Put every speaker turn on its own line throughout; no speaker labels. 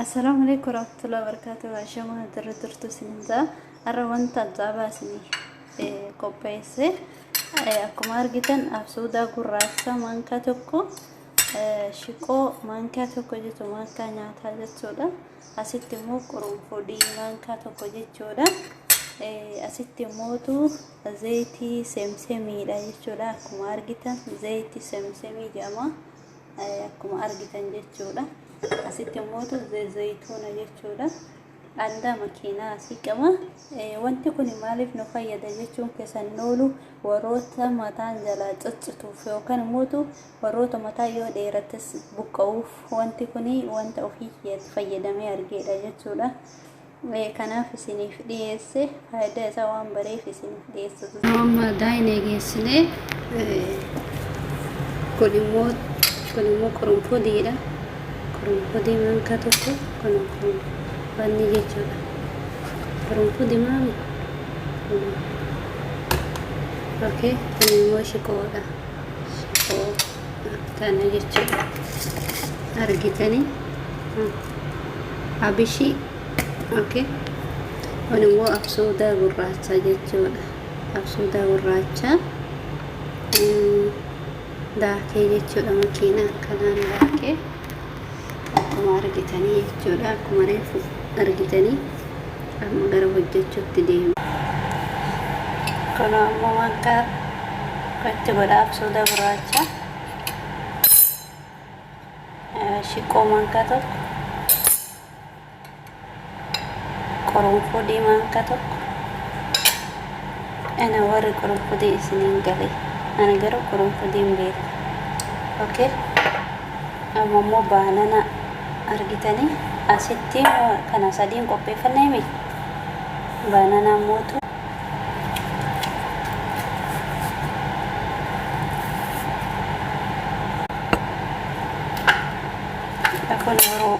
Assalaamu alaikum warahmatullahi wabarakatuh. Ashamaa jirra jirtu isiniin ja'a. Har'a wanta ajaa'ibaa isinii eh, qopheesse. Eh, Akkuma argitan absuudaa gurraacha maankaa tokko eh, shiqoo maankaa tokko jechuun maankaa nyaataa jechuudha. Asitti immoo qurunfudii maankaa tokko jechuudha. Eh, Asitti immootu zayitii semsemiidha jechuudha. Akkuma argitan zayitii semsemii jedhama. akkuma argitan jechuudha asitti immootu zayituuna jechuudha andaa makiinaa asii qaba wanti kun maaliif nu fayyada jechuun keessan noolu warroota mataan jalaa ciccituuf yookaan immootu warroota mataa yoo dheerates buqqa'uuf wanti kun wanta ofii fayyadamee argeedha jechuudha Mee kanaaf isiniif dhiyeesse faayidaa isaa waan bareef isiniif dhiyeessa. Yeroo ammaa daayin eegeessine kun immoo kun immoo qurunfudiidha. Qurunfudii maankaa tokko kun kun wanni jechuudha. Qurunfudi maan kun okay kun immoo shiqoodha. Shiqoo. kana jechuudha argitanii abishii okay kun immoo absuudaa gurraachaa jechuudha absuudaa gurraachaa daakee jechuudha makiina akkanaan daakee Akkuma argitanii jechuudha akkuma reefu argitanii amma gara hojjechuutti deemu. Kunoo amma wanta itti godha absuuda gurraacha shiqqoo mankaa tokko Qorunfuu diimaa harka tokko. Ana warri qorunfuu diin isiniin gale. Ana garuu qorunfuu diin beeku. Okay. Amma immoo baanana argitanii asitti kana sadiin qopheeffannee mi? Baananaa mootu kun yeroo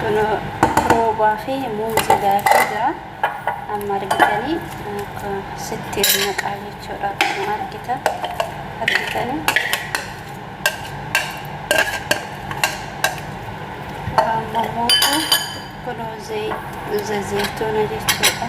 Kuno roobaa fi muuzii daakee jira. Amma argitanii akka sitti naqaa jechuudha. Akkuma argitan argitanii. Amma immoo kuno zayituuna jechuudha.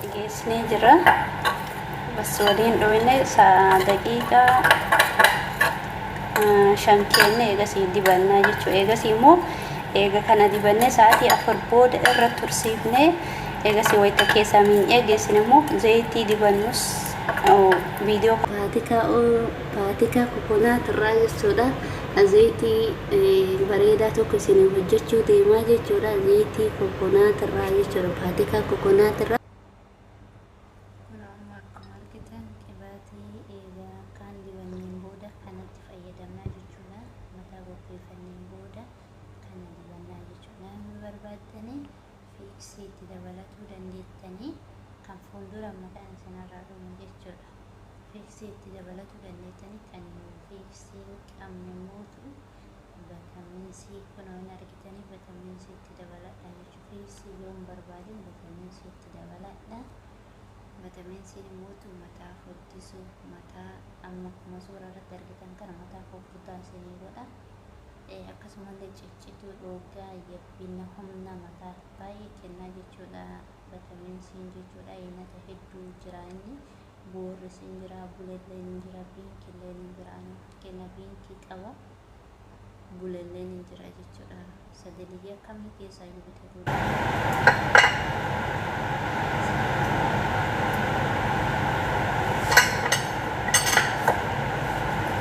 dhigeessinee jira bas waliin dhooyne daqiiqaa shan keenne eegasii dibannaa jechuu eegasii immoo eega kana dibannee sa'aatii afur booda irra tursiifnee eegasii wayita keessaa miinyee geessine immoo zayitii dibannus viidiyoo Faatikaa Faatikaa kokonaat irraa jechuudha. Zayitii bareedaa tokko isinii hojjechuu deemaa jechuudha. Zayitii kokonaat irraa jechuudha. Faatikaa kokonaat irraa. Kunoo amma akkuma argitan qibaatii eega akkaan dibanneen booda kanatti fayyadamnaa jechuudha. Mataa qopheeffanneen booda kana dibannaa jechuudha. Namni barbaaddanii fiiksii itti dabalatuu dandeettanii kan fuuldura mataan isinirraa dhumu jechuudha. Fiiksii itti dabalatuu dandeettanitti ani immoo fiiksii hin qabne mootu bataminsii kunoo hin argitanii bataminsii itti dabaladha jechuun fiiksii yoo hin barbaadin bataminsii itti dabaladha bataminsiin mootu mataa furdisu mataa amma akkuma suura irratti argitan kana mataa furdaa isinii godha akkasumallee ciccituu dhoogaa yabbina humna mataa baay'ee kennaa jechuudha. vitamin C jechuudha nyaata hedduu jira inni boorris hin jira bulelleen hin jira biinkilleen hin jira fakkeenyaa biinkii qaba bulelleen hin jira jechuudha sagaliyyaa kamii keessaa iyyuu bitatuu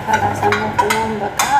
Kalaas ammoo kunuun baqaa